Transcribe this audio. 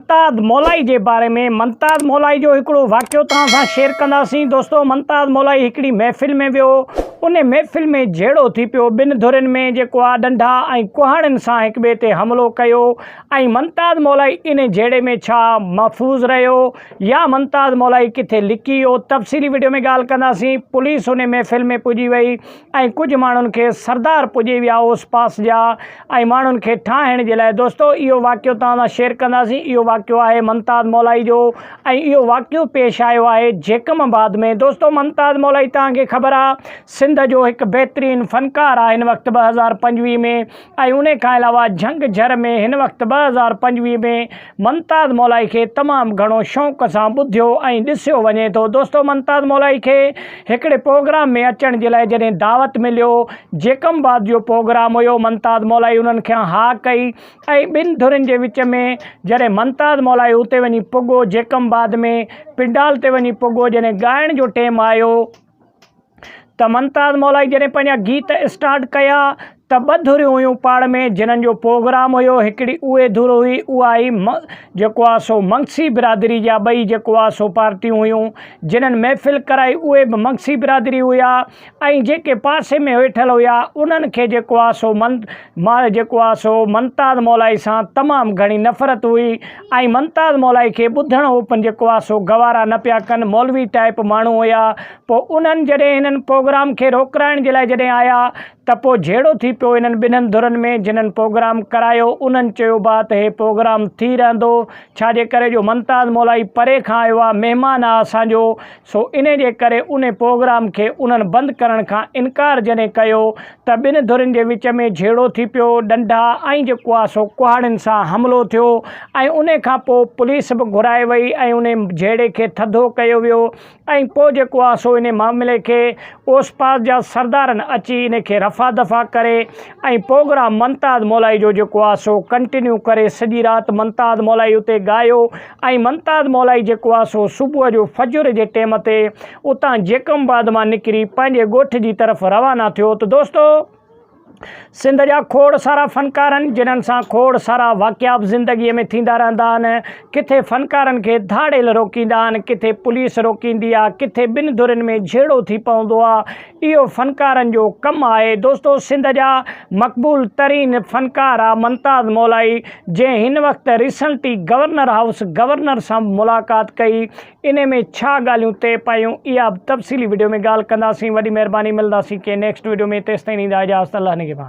منتاد مولائي جي باري ۾ منتاد مولائي جو هڪڙو واقعو توهان سان شيئر ڪنداسين دوستو منتاد مولائي هڪڙي محفل ۾ ويو ان محفل ۾ جهيڙو ٿي پيو ٻن ڌرين ۾ جيڪو آ ڏنڊا ۽ ڪهاڙين سان هڪ ٻئي تي حملو ڪيو ۽ منتاد مولائي ان جهيڙي ۾ ڇا محفوظ رهيو يا منتاد مولائي ڪٿي لڪي ويو تفصيلي وڊيو ۾ ڳالهه ڪنداسين پوليس ان محفل ۾ پڄي وئي ۽ ڪجهه ماڻهن کي سردار پڄي ويا اوس پاس جا ۽ ماڻهن کي ٺاهڻ جي لاء دوستو اهو واقعو توهان سان شيئر ڪنداسين اهو واقعو آهي منتاد مولائي جو ۽ اهو واقعو پيش آيو آهي جيڪم آباد ۾ دوستو منتاد مولائي توهان کي خبر آهي سنڌ جو هڪ بهترين فنڪار آهي هن وقت ٻه هزار پنجويهه ۾ ۽ انهي کان علاوه جهنگ جهر ۾ هن وقت ٻه هزار پنجويهه ۾ ممتاز مولائي کي تمام گهڻو شوق سان ٻڌيو ۽ ڏسيو وڃي ٿو دوستو ممتاز مولائي کي هڪڙي پروگرام ۾ اچڻ جي لاء جڏهن دعوت مليو جيڪم باد جو پروگرام هيو ممتاز مولائي انهن کان ها ڪئي ۽ ٻن ڌرين جي وچ ۾ جڏهن ممتاز مولائي اتي وڃي پڳو جيڪم باد ۾ پنڊال تي وڃي پڳو جڏهن ڳائڻ جو ٽيم آيو ته ممتاز مولائي جڏهن پنهنجا گيت اسٽارٽ ڪيا ته ٻه ڌريون هيون پاڙ ۾ جنهن جو پروگرام هيو هڪڙي اهي ڌر هئي اها هئي جيڪو آ سو مگسي برادري جا ٻئي جيڪو آ سو پارٽيون هيون جنهن محفل ڪرائي اهي به مگسي برادري هيا ۽ جيڪي پاسي ۾ ويٺل هيا انهن کي جيڪو آ سو جيڪو آ سو ممتاز مولائي سان تمام گهڻي نفرت هئي ۽ ممتاز مولائي کي ٻڌڻ هو پن جي ڪوا سو گوارا نه پيا ڪن مولوي ٽائپ ماڻهو هيا پو انهن جڏهن هنن پوگرام کي روڪرائڻ جي لاء جڏهن آيا ته پو جهيڙو ٿي پيو انهن ٻنهن ڌرن ۾ جنهن پوگرام ڪرايو انهن چيو با ته هي پوگرام ٿي رهندو ڇا جي ڪري جو ممتاز مولائي پري کان آيو آ مهمان آ اسان جو سو انهي جي ڪري انهي پروگرام کي انهن بند ڪرڻ کان انڪار جڏهن ڪيو ته ٻن ڌرين جي وچ ۾ جهيڙو ٿي پيو، ڏنڊا ۽ جيڪو آهي سو ڪهاڙين سان حملو ٿيو ۽ انهي کان پوء پوليس به گهرائي وئي ۽ انهي جهيڙي کي ٿڌو ڪيو ويو ۽ پوء جيڪو آهي سو انهي معاملي کي اوسپاس جا سردارن اچي انهي کي رفع دفع ڪري ۽ پوگرام منتاد مولائي جو جيڪو آ سو ڪنٽنيو ڪري سڄي رات منتاد مولائي اتي ڳايو ۽ منتاد مولائي جيڪو آ سو صبح جو فجر جي ٽيم تي اتان جيڪم آباد مان نڪري پنهنجي ڳوٺ جي طرف روانا ٿيو ته دوستو سنڌ جا کوڙ سارا فنڪارن جنھن سان کوڙ سارا واقعا به زندگي ۾ ٿيندا رهندا آهن ڪٿي فنڪارن کي ڌاڙيل روڪيندا آهن ڪٿي پوليس روڪيندي آ ڪٿي ٻن ڌرين ۾ جھيڙو ٿي پوندو آ اهو فنڪارن جو ڪم آهي دوستو سنڌ جا مقبول ترين فنڪار آ ممتاز مولائي جنهن هن وقت ريسنٽي گورنر هائوس گورنر سان به ملاقات ڪئي انهي ۾ ڇا ڳالهيون طئي پايون اها به تفصيلي وڊيو ۾ ڳالهه ڪنداسين وڏي مهرباني ملنداسين ڪنهن نيڪسٽ وڊيو ۾ تيستائين ڏيندا اجازت الله نگهبان.